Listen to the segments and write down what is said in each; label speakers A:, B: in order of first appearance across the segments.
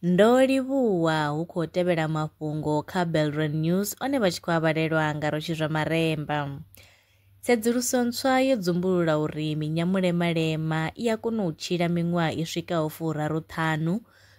A: Ndo livhuwa hu khou tevhela mafhungo kha Belron News one vha tshi khou avhalelwa nga rotshi zwa maremba. Tsedzuluso ntswa yo dzumbulula uri minyamulemalema i a kona u tshila miṅwaha i swikaho furaru ṱhanu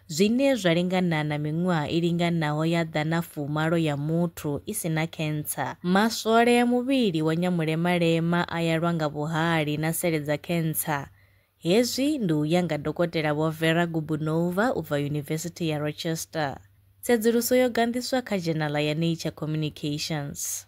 A: zwine zwa lingana na miṅwaha i linganaho ya ḓana fumalo ya muthu i si na khentsa. Maswole a muvhili wa Nyamulemalema a ya lwa nga vhuhali na sele dza khentsa. Hezwi ndi u ya nga Dokotela Vho Vera Gubunova u bva Yunivesithi ya Rochester. Tsedzuluso yo ganḓiswa kha dzhenala ya Nature Communications.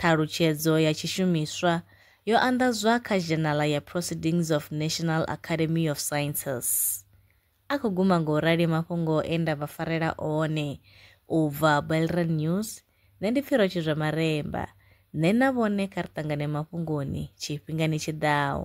A: Ṱhalutshedzo ya tshishumiswa yo anḓadzwa kha Zhenala ya Proceedings of National Academy of Sciences. A khou guma nga u rali mafhungo e nda vha farela one. U bva Belreal News, Nṋe ndi Pfiro Tshizwamaremba. Nṋe na vhone kha ri ṱangane mafhungoni tshifhingani tshi ḓaho.